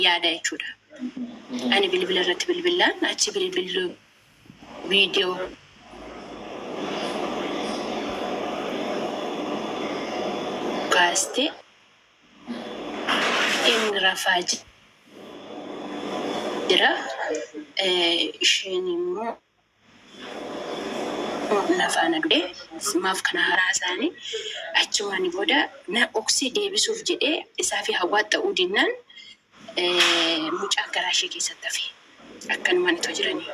yaada jechuudha. Ani bilbila irratti bilbillaan achi bilbillu viidiyoo kaastee inni rafaa jira. Isheen immoo Wbo na faana du'e maaf kana haaraa haasa'ani achumaani booda na dhoksee deebisuuf jedhee isaafi Hawwaat ta'uu dinnaan mucaan garaa ishee keessatti hafe akkanumaan itoo jiranii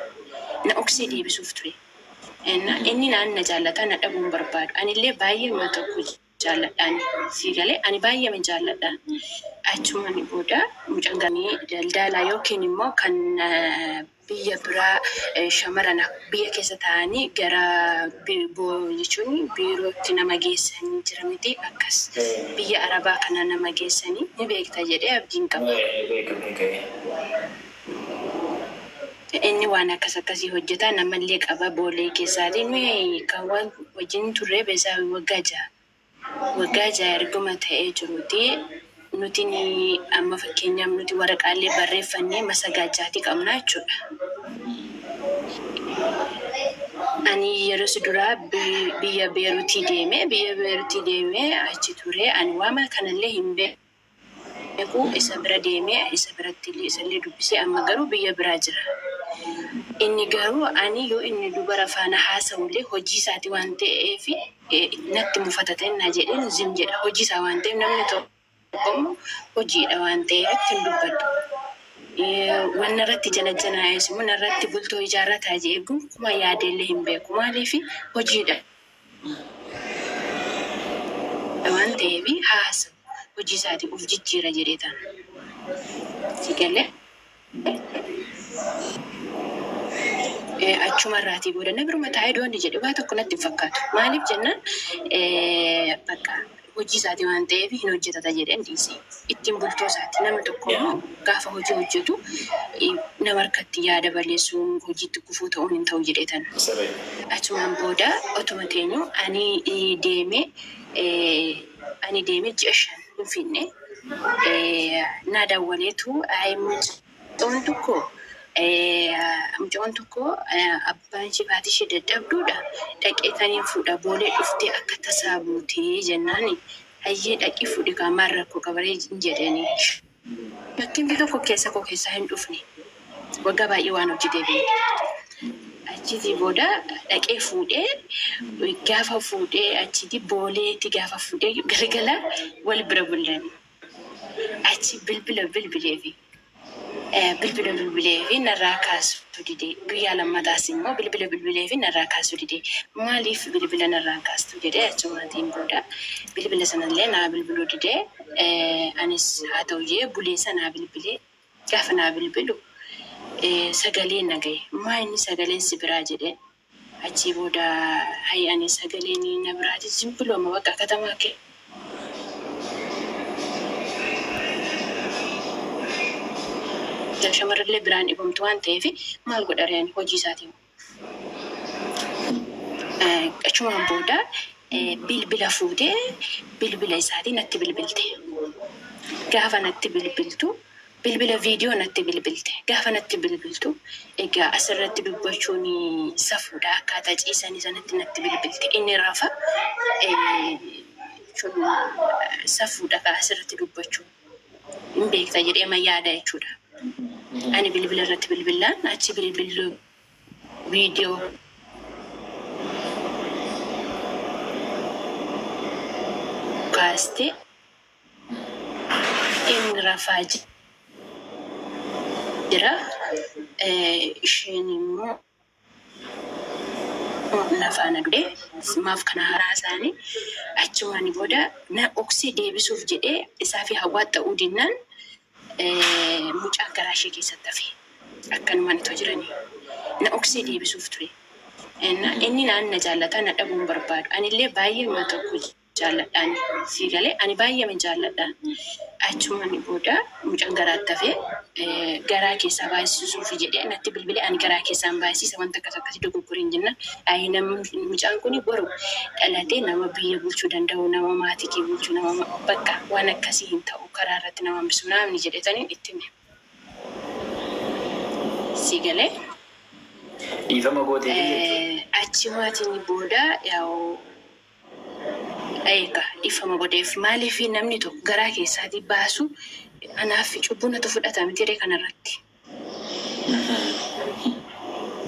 na dhoksee deebisuuf ture inni naan na jaallataa na dhabuu hin barbaadu anillee baay'ee wal tokko jaalladha ani sii galee ani baay'eeman jaalladha achumani booda mucan ganii daldaalaa yookiin immoo kan biyya biraa shamarana biyya keessa ta'anii gara jechuun biirootti nama geessanii jira miti akkas biyya arabaa kana nama geessanii ni beekta jedhee abdiin qaba. Inni waan akkas akkasii hojjeta, namallee qaba boolee keessaati. Nuyi kan wal wajjin turre Beesaawii waggaa ja'a. Waggaa ja'a erguma ta'ee jiruuti nuti amma fakkeenyaaf nuti waraqaallee barreeffannee masagaachaatii qabna jechuudha. Ani yerosi duraa biyya Beeruutii deeme, biyya Beeruutii deemee achi ture, ani waama kanallee hin beeku. beeku isa bira deeme isa biratti illee isa illee dubbise amma garuu biyya biraa jira inni garuu ani yoo inni dubara faana haasawu illee hojii isaati waan ta'eef natti mufata ta'e naa jedheen zim jedha hojii isaa waan ta'eef namni tokko immoo hojiidha waan ta'eef itti hin dubbadhu wanna irratti janajjanaa'es immoo narratti bultoo ijaarrataa je'ee gonkumaa yaadee illee hin beeku maaliif hojiidha dha waan ta'eef haasa hojii isaati of jijjiira jedhee ta, si galee achuma irraatii booda na biruma taa'ee doonni jedhe waa tokko natti hin fakkaatu maaliif jennaan bakka hojii isaati waan ta'eef hin hojjetata jedheen dhiise. Ittiin bultoo isaati. Nama tokko immoo gaafa hojii hojjetu nama harkatti yaada balleessuun, hojiitti gufuu ta'uun hin ta'u jedheetan. Achumaan booda otuma teenyuu ani deemee ani deemee ji'a shan hin fiigne. Naa dawwaleetu, Ayi mucaa. Mucaan tokko mucaan tokko abbaan ishee fi haati ishee dadhabduudha dhaqee kan hin fuudha boolee dhuftee akka tasaa buutee jennaan hayyee dhaqii fuudhi kaa maal rakkoo qabaree hin jedheenii. Bakkin bika koo keessa koo keessaa hin dhufne waggaa baay'ee waan hojii deebineef achiitii booda dhaqee fuudhee gaafa fuudhee achiitii booleetti gaafa fuudhee galgala wal bira bullan. Achi bilbila bilbileefi. Bilbila bilbileefi narraa kaasuu dide. Guyyaa lammataas immoo bilbila bilbileefi narraa kaasuu dide. Maaliif bilbila narraa hin kaastu jedhee achumaatiin booda bilbila sanallee naa bilbiluu dide. Anis haa ta'u jedhee buleessa naa bilbile. Gaafa naa bilbilu sagalee nagaye. Maa inni sagaleen sibiraa jedheen. Achii booda hay ani sagaleen na biraa jijjimbilo ma baqa katamaa ke. Yaa shamarrillee biraan dhibamtu waan ta'eef maal godharee ani hojii isaatii moo. Achumaan booda bilbila fuutee bilbila isaatii natti bilbilte. Gaafa natti bilbiltu. Bilbila viidiyoo natti bilbilte. Gaafa natti bilbiltu egaa asirratti dubbachuun safuudha akkaataa ciisanii sanatti natti bilbilte. Inni rafa jechuun safuudha kaa asirratti dubbachuu hin beekta jedhee ma yaada jechuudha. Ani bilbila irratti bilbilaan achi bilbillu viidiyoo kaastee Inni rafaa jira, isheen immoo na faana duute. Maaf kana haasa'anii achumaan booda na dhoksee deebisuuf jedhee isaa fi Hawwaa ta'uu dinnaan mucaan garaa ishee keessatti hafe. Akkanumaan itoo jiranii na dhoksee deebisuuf ture. Inni naan na jaallata, na dhabuu hin barbaadu. Anillee baay'ee nama tokko. jaalladhaan sii galee ani baay'eeman jaalladha achuman booda mucan garaatti hafee garaa keessaa baay'sisuufi jedhee natti bilbilee ani garaa keessaan baay'siisa wanta akkas akkasi dogoggoreen jennaan ayii namni mucaan kuni boru dhalatee nama biyya bulchuu danda'u nama maatii kee bulchu nama bakka waan akkasii hin ta'u karaa irratti nama hambisu naamni jedhetaniin itti hime sii galee. Dhiifama gooteefi jechuudha. Achi maatiin booda yaa'u Eega dhiffama godheef maaliifi namni tokko garaa keessaatii baasuu anaaffi cubbuu natu fudhata miti ree kana irratti?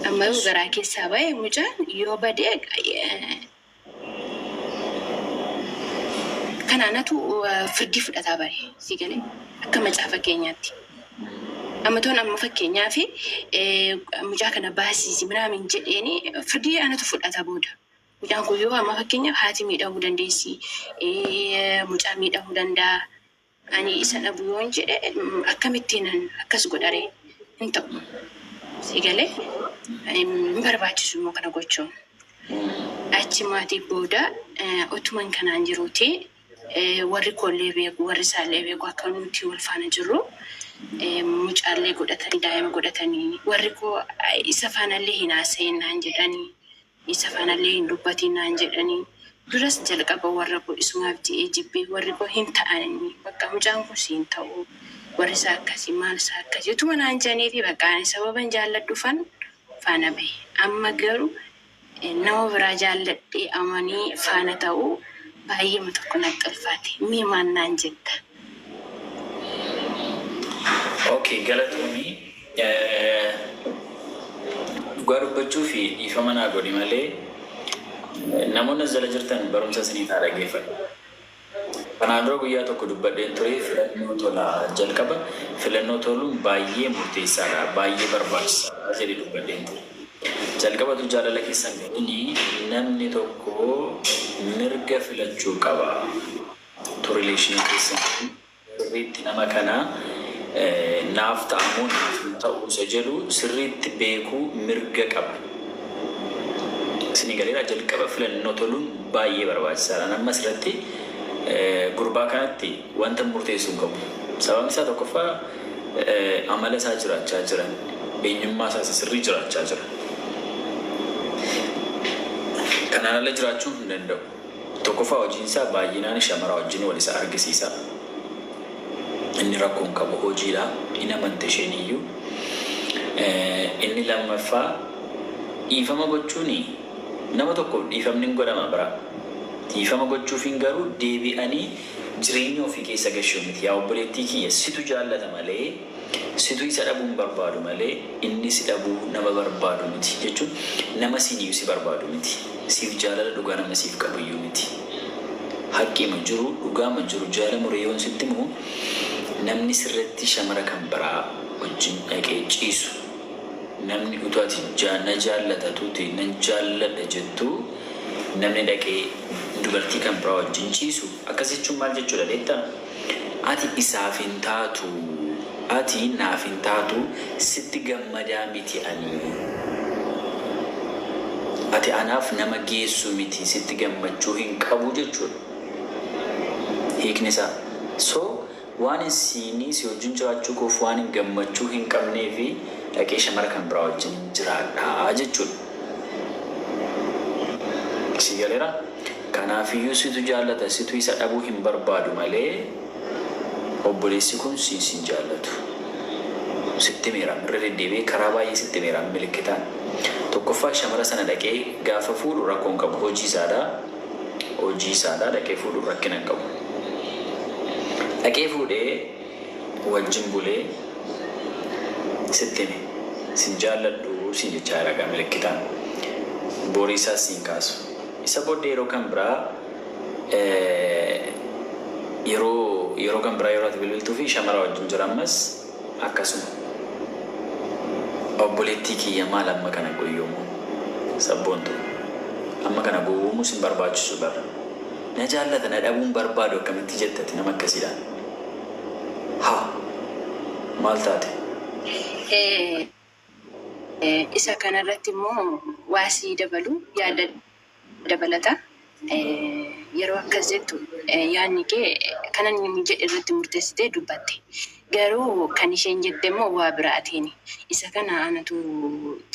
Amma yoo garaa keessaa ba'e mucaan yoo bade kan anatu firdii fudhataa bare sii galee akka macaafa keenyaatti. Amma toon amma fakkeenyaafi mucaa kana baasiisi minaamin jedheeni firdii anatu fudhata booda. Mucaan kun yoo amma fakkeenyaaf haati miidhamuu dandeessi, mucaan miidhamuu danda'a, ani isa dhabu yoon jedhe akkamittiinan akkas godharee? Hin ta'u. Si galee? Hin barbaachisu immoo kana gochuun. Achi maatii booda utuman kanaan jiruuti warri koollee beeku, warri isaallee beeku akka nuti wal faana jirru mucaallee godhatanii, daa'ima godhatanii warri koo isa faanallee hin haasa'in naan jedhanii. isa fanallee hin dubbatiin naan jedhanii duras jalqaba warra koo isumaaf je'ee jibbe warri koo hin ta'anii baqqa mucaan kun si hin ta'uu warri isaa akkasi maal isaa akkasi utuma naan je'aniitii baqqa ani sababan jaalladhufan faana bahe amma garu nama biraa jaalladhee amanii faana ta'uu baay'eema tokko natti ulfaate mee maal naan jetta ok galatoomi dhugaa dubbachuufi dhiifama naa godhi malee namoonni as jala jirtan barumsa isiniif haa dhageeffadhu kanaan dura guyyaa tokko dubbadheen ture filannoo tola jalqaba filannoo toluun baay'ee murteessaadha baay'ee barbaachisaadha jedhe dubbadheen ture jalqabatu jaalala keessan godhini namni tokko mirga filachuu qaba Maaltu relation keessan kun sirriitti nama kana naaf ta'a moo naaf hin ta'u isa jedhu sirriitti beekuu mirga qaba. Isinii galeeraa jalqaba filannoo toluun baay'ee barbaachisaadha. An amma asirratti gurbaa kanatti wantan murteessu hin qabu. Sababni isaa tokkoffaa amala isaa jiraachaa jira. Eenyummaa isaa isa sirrii jiraachaa jira. Kanaan ala jiraachuu hin danda'u. Tokkoffaa hojiin isaa baay'inaan shamaraa wajjin wal isa argisiisa. Inni rakkoon qabu hojiidha. Hin amante isheen iyyuu. Inni lammaffaa dhiifama gochuun nama tokkoof dhiifamni hin godhama bara. Dhiifama gochuufiin garuu deebi'anii jireenya ofii keessa gashuu miti. Yaa obboleettii kiyya situ jaallata malee. Situ isa dhabuu hin barbaadu malee inni si dhabuu nama barbaadu miti. Jechuun nama siiniyyuu si barbaadu miti. Siif jaalala dhugaa nama siif qabuyyuu miti. Haqqiima jiru, dhugaama jiru jaala muree yoon sitti himu namni sirratti shamara kan biraa wajjin dhaqee ciisu namni utuu ati na jaallata tuuti nan jaalladha jettuu namni dhaqee dubartii kan biraa wajjin ciisu akkas jechuun maal jechuudha beektaa? Ati isaaf hin taatu Ati naaf hin taatu Sitti gammadaa miti ani Ati anaaf nama geessu miti Sitti gammachuu hin qabu jechuudha hiikni isaa So waanin siinii si wajjin jiraachuu koof waanin gammachuu hin qabneefi dhaqee shamara kan biraa wajjin jiraadha jechuudha Sii galeeraa? Kanaafiyyuu situ jaallata situ isa dhabuu hin barbaadu malee obboleessi kun si hin sin jaallatu. Sitti himeera irra deddeebi'ee karaa baay'ee sitti himeera milikkitaan. Tokkoffaa shamara sana dhaqee gaafa fuudhu rakkoo hin qabu hojii isaadha hojii isaadha dhaqee fuudhuun rakkina hin qabu. Dhaqee fuudhee. wajjin bulee sitti hime sin jaalladhu siin jechaa jira egaa milikkitaan borii isaas siin kaasu isa booddee yeroo kan biraa yeroo yeroo kan biraa yeroo ati bilbiltuu fi shamara wajjin jira ammas akkasuma obboleettii kiyya maal amma kana goyyoomuun sabboontu amma kana gowwoomuu sin barbaachisu bar na jaallata na dhabuun barbaadu akkamitti jettati nama akkasiidhaan Haa! Maal taate? Isa kana irratti immoo waa sii dabalu yaada dabalata. Yeroo akkas jettu yaadni kee kan inni jedhe irratti murteessitee dubbatte. Garuu kan isheen jette immoo waa biraatiin isa kana anatu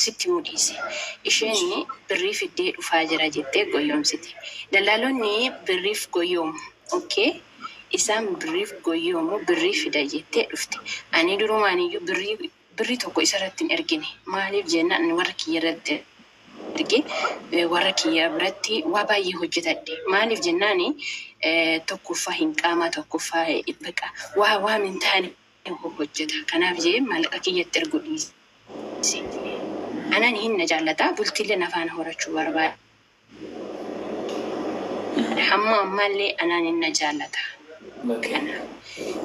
sitti himuu dhiise. Isheen birrii fiddee dhufaa jira jettee goyyoomsite. Dallaalonni birriif goyyoomu. Okay. Isaan birriif goyyoo moo birrii fida jettee dhufte. Ani durumaaniyyuu birrii birrii tokko isarratti hin ergine. Maaliif jennaan ani warra kiyyarratti ergee warra kiyya biratti waa baay'ee hojjetadhe. Maaliif jennaan tokkoffaa hin qaamaa tokkoffaa baqa waa waan hin taane hojjeta. Kanaaf jedhee maallaqa kiyyatti erguu dhiise. Anaan hin na jaallata bultiillee na faana horachuu barbaada. Hamma ammaallee anaan in na jaallata. Kana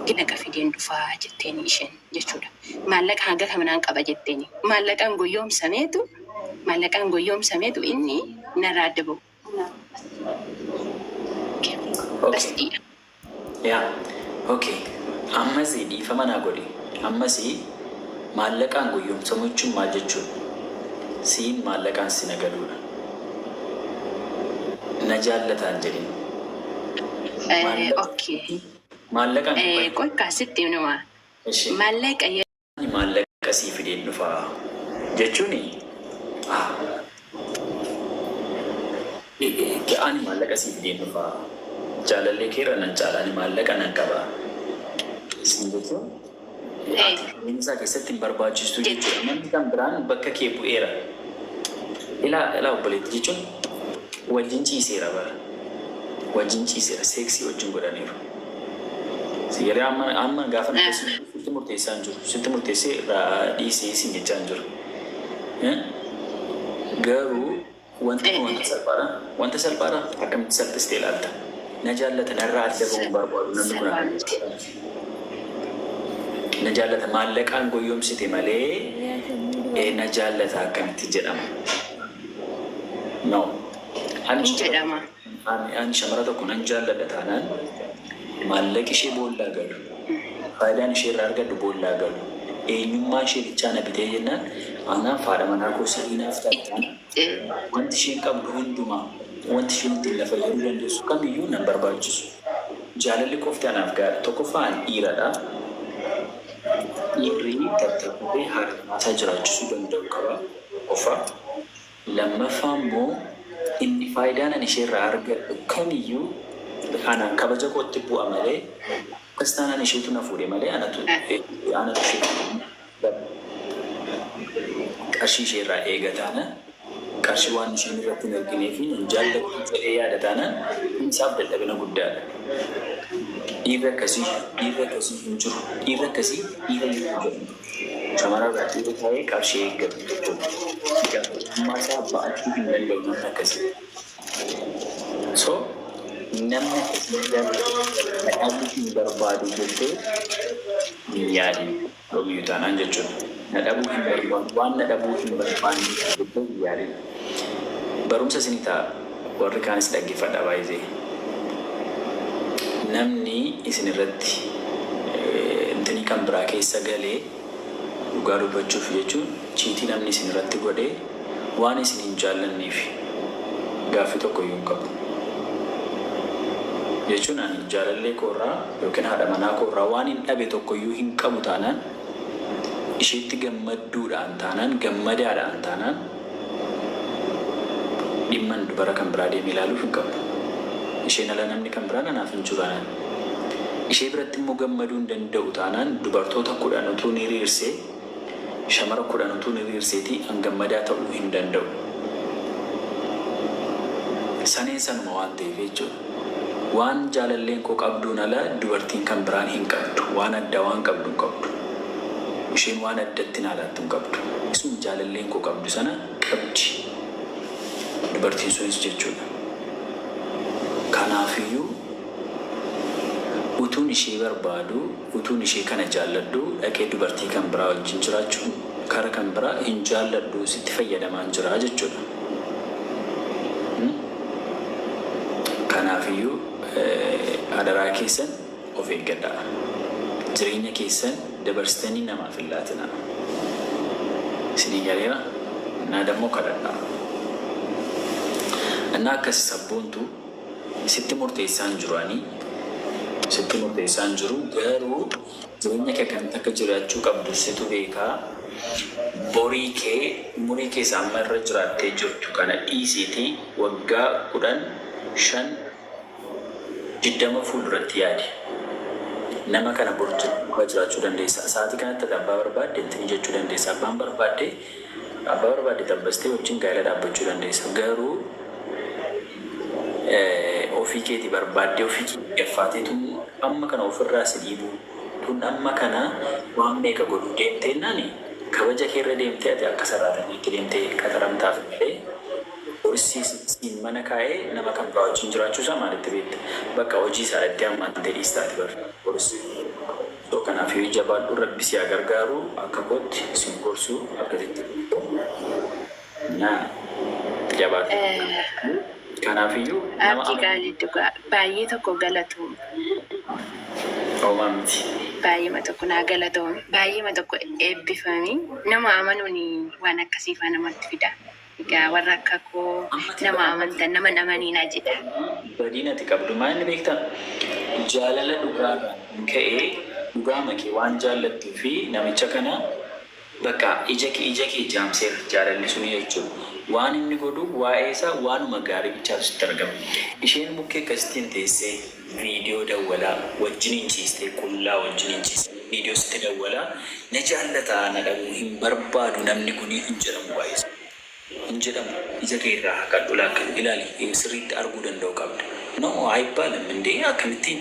ginaqa fideen dhufa jetteeni isheen jechuudha. Maallaqa hanga kaminaan qaba jetteeni. Maallaqaan goyyoomsameetu maallaqaan goyyoomsameetu inni narraa adda ba'u. Bas dhiidha. Yaa ok ammasi dhiifama naa godhi ammasi maallaqaan goyyomsamu jechuun maal jechuudha siin maallaqaan sina galuudha na jaallataa hin jedhin Ee ok maallaqaan Ee qoy kaa sitti himnuma eshi maallaqa Ani maallaqa sii fideen dhufa jechuuni? a. Eeyyee, ani maallaqa sii fideen dhufa. Jaalallee kee irra nan caala, ani maallaqa nan qaba siin jechuun ati jireenya isaa keessatti hin barbaachistu jechuudha. Namni kan biraan bakka kee bu'eera. Ilaa, ilaa obboleetti jechuun wajjin ciiseera bar. Wajjin ciiseera, seeksii wajjin godhaniiru. Sigaree amma amma gaafa na keessi sitti murteessaa hin jiru. Sitti murteessee irraa dhiisii siin jechaa hin jiru. Eh? Garuu wanti nu wanta salphaadha. Wanta salphaadha akkamitti salphistee ilaalta? Na jaallata narraa adda bahuu hin barbaadu namni kun akkamitti jedhama? Na jaallata maallaqaan goyyomsite malee eh, na jaallata akkamitti jedhama? No. Ani Hin jedhama. Ani shamara tokko nan jaalladha taanaan maallaqi ishee boollaa galu, faayidaan ishee irraa argadhu boollaa galu, eenyummaan ishee bichaa na bitee jennaan anaaf haadha manaa koo sirrii naaf taati taanaan wanti isheen qabdu hundumaa, wanti isheen ittiin na fayyaduu dandeessu kamiyyuu nan barbaachisu. Jaalalli qofti anaaf gahaadha. Tokkoffaa ani dhiiradha. Dhiirri tattaaffatee haadha manaa isaa jiraachisuu danda'uu qaba tokkoffaa. Lammaffaa immoo inni faayidaan ani isheerraa argadhu kamiyyuu anaan kabaja kootti bu'a malee akkas taanaan isheetu na fuudhe malee anatu anatu ishee fuudhe qarshii isheerraa eega taanaan qarshii waan isheen irratti hin argineefi nan jaalladhu jedhee yaada taanaan kun isaaf dadhabina guddaadha. Dhiirri akkasii dhiirri akkasii hin jiru dhiirri akkasii dhiira hin jedhamu. Shamaraa baaxii taa'ee qarshii eeggatu tokkoof itti gaafatamummaa isaa ba'achuu hin danda'u namni akkasii. So namni akkasii garuu na dhabuu hin barbaadu jettee hin yaadin. Dhoomiyyuu taanaan jechuudha. Na dhabuu hin barbaadu waan na dhabuu hin barbaanneef jettee hin yaadin. Barumsa isinii ta'a. Warri kaanis dhaggeffadha baay'ze namni isin irratti intini kan biraa keessa gale dhugaa dubbachuuf jechuun chiitii namni isin irratti godhe waan isin hin jaallanneef gaaffii tokko iyyuu hin qabu jechuun ani jaalallee koo irraa yookiin haadha manaa koo irraa waanin dhabe tokko iyyuu hin qabu taanaan isheetti gammadduudhaan taanaan gammadaadhaan taanaan Dhimman dubara kan biraa deemee ilaaluuf hin qabu. Isheen ala namni kan biraan anaaf hin jiru taanaan, ishee biratti immoo gammaduu hin danda'u taanaan dubartoota kudhan utuun hiriirsee, shamara kudhan utuun hiriirseetii an gammadaa ta'uu hin danda'u. Saneen sanuma waan ta'eef jechuudha. Waan jaalalleen koo qabduun ala dubartiin kan biraan hin qabdu. Waan addaa waan qabdu hin qabdu. Isheen waan addatti naa laattu hin qabdu. Isuma jaalalleen koo qabdu sana qabdi dubartiin sunis jechuudha. Kanaafiyyuu utuun ishee barbaaduu, utuun ishee kana jaalladhuu dhaqee dubartii kan biraa wajjin jiraachuun Kara kan biraa hin jaalladhu sitti fayyadamaan jira jechudha. Kanaafiyyuu adaraa keessan of eeggadhaa. Jireenya keessan dabarsitanii namaaf hin laatinaa. Isinii galeera? Innaa dammoo kadhadhaa. Innaa akkasi sabboontu sitti murteessaa hin jiru ani. Sitti murteessaa hin jiru garuu. Jireenya kee akkamitti akka jiraachuu qabdu situ beeka. Borii kee umurii kee isa amma irra jiraattee jirtu kana dhiisiitii waggaa 10, 5, 20 fuulduratti yaadi. Nama kana bor duukaa jiraachuu dandeessa. Sa'aatii kanatti ati abbaa barbaadde itti mijachuu dandeessa. Abbaan barbaadde. Abbaa barbaadde xabbastee wajjin gaa'ela dhaabbachuu dandeessa. Garuu ofii keeti barbaaddee ofii kee gaffaatee tun amma kana of irraa si dhiibuu, tun amma kana waan meeqa godhuu deemteennaan kabaja kee irra deemtee ati akka saraatanyaatti deemtee qaxaramtaaf malee boris siin mana kaa'ee nama kan biraa wajjin jiraachuu isaa maalitti beekta? Bakka hojii isaa dha itti ammantee dhiistaati bar boris. So kanafii jabaadhu rabbi si haa gargaaru akka kootti sin gorsu akkasitti na jabaadhu kanaafiyyuu nama Abdi qaalii dhugaa baay'ee tokko galatoomi. homaa miti. Baay'eema tokko naa galatoomi. Baay'eema tokko eebbifami. Nama amanuun waan akkasiifaa namatti fida. Egaa warra akka koo nama amantan nama hin amaniinaa jedha. Badiin ati qabdu maa inni beektaa? Jaalala dhugaarraan kan ka'e dhugaama kee waan jaallattuu fi namicha kana bakka ija kee ija kee jaamseera jaalalli suni jechuudha. Waan inni godhu waa'ee isaa waanuma gaarii bichaatu sitti argama. Isheen bukkee akkasittiin teessee. Video dawwala wajjiniin ciistee qullaa wajjiniin ciistee video sitti dawwala na jaallata na dhabuu hin barbaadu namni kuni hin jedhamu baay'ee salphaadha hin jedhamu ija kee irraa haqadhu lakk ilaali sirriitti arguu danda'u qabda no ayibbaalam indee akkamittiin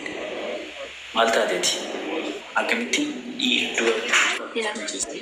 maal taateti akkamittiin dhiir dubartii tokko wajjin ciistee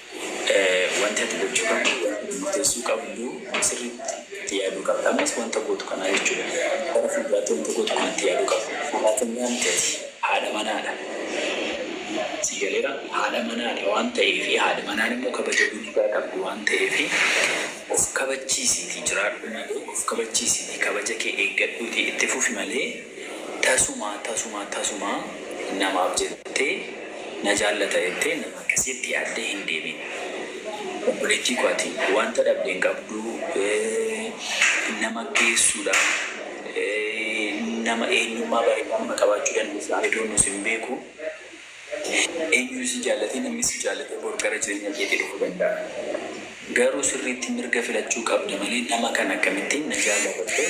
Wanti ati gochuu qabdu waan itti murteessuu qabdu sirriitti itti yaaduu qabda. Ammas wanta gootu kanaa jechuudha. Gara fuulduraatti wanta gootu kana itti yaaduu qabda. Fakkeenyaa miti ati haadha manaadha. Sii galeera? Haadha manaadha waan ta'eef haadhi manaan immoo kabaja guddaa qabdi waan ta'eef of kabachiisiitii jiraadhu malee of kabachiisiitii kabaja kee eeggadhuutii itti fufi malee tasumaa tasumaa tasumaa namaaf jettee na jaallata jettee Akkasitti addee hin deebiin. Obboleettii koo ati wanta dhabde hin qabdu, nama geessuudha, nama eenyummaa bareedduu nama qabaachuu dandeessa, I don't know sin beeku, eenyuyyuu si jaallatee namni si jaallatee bor gara jireenya keetii dhufuu danda'a. Garuu sirriitti mirga filachuu qabda malee nama kana akkamittiin na jaalata jettee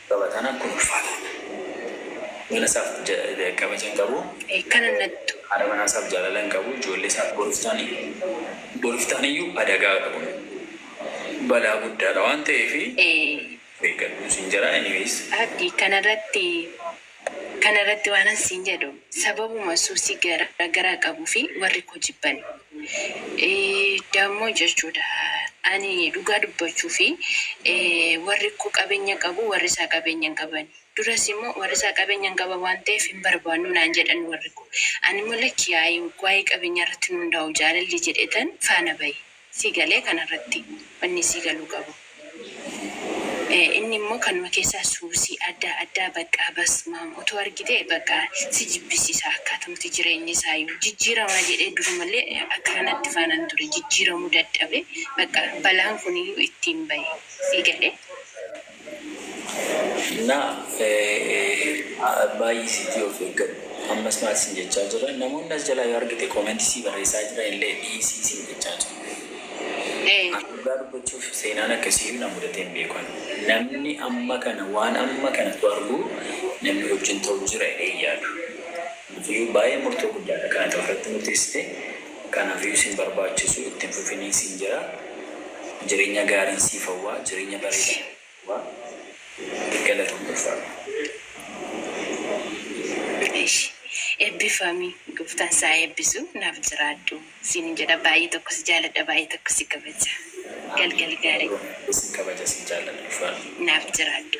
Taphataan akkuma ulfaataan mana isaaf kabaja hin qabu. Kan hin nattu. Haadha manaa isaaf jaalala hin qabu. Ijoollee isaa boriif taan iyyuu adagaa dha kun. Balaa guddaa dha waan ta'eef of eeggadhu siin jedha. Anyways. Abdi kana irratti Kana irratti waanan siin jedhu, sababuma suusii gara garaa qabuu fi warri koo jibban dammoo jechuu dha. Ani dhugaa dubbachuu fi warri koo qabeenya qabu, warri isaa qabeenya hin qaban. Duras immoo warri isaa qabeenya hin qaban waan ta'eef hin barbaannu naan jedhan warri koo. Ani immoo lakki yaa'ii waa'ee qabeenyaa irratti hin hundaa'u jaalalli jedheetan faana ba'e. sii galee kana irratti wanni sii galuu qabu inni immoo kanuma keessaa suusii addaa addaa baqqaa basmaam utuu argitee baqqaa si jibbisiisa akkaatumti jireenyi isaayuu jijjiiramaa jedhee durumallee akkana natti faanan ture jijjiiramuu dadhabee baqqaa balaan kuniyyuu ittiin bahe sii galee Na, a, baay'isiitii of eeggadhu. Ammas maal siin jechaa jira? Namoonni as jalaa yoo argite comment sii barreessaa jiran illee dhiisii siin jechaa jiru. Ee. Ani dhugaa dubbachuuf seenaan akkasiiyyuu na mudatee hin beeku ani. Namni amma kana waan amma kana utuu arguu namni wajjin ta'u jira jedhee hin yaadu. Kanaafiyyuu baay'ee murtoo guddaadha kan ati ofirratti murteessite. Kanafiyuu sin barbaachisu itti hin fufinii sin jera jirenyaa gaariin siif hawwaa jireenya bareeda hawwaa galatomi ulfaadhu. Eshi ebbifami goftan saa ebbisu naf jiraadhu sinin jedha baay'ee tokko si jaaladha baay'ee tokko si kabaja Ameen galgal gaari. Ameen Anillee sin kabaja sin jaalladha ulfaadhu. Naaf jiraadhu.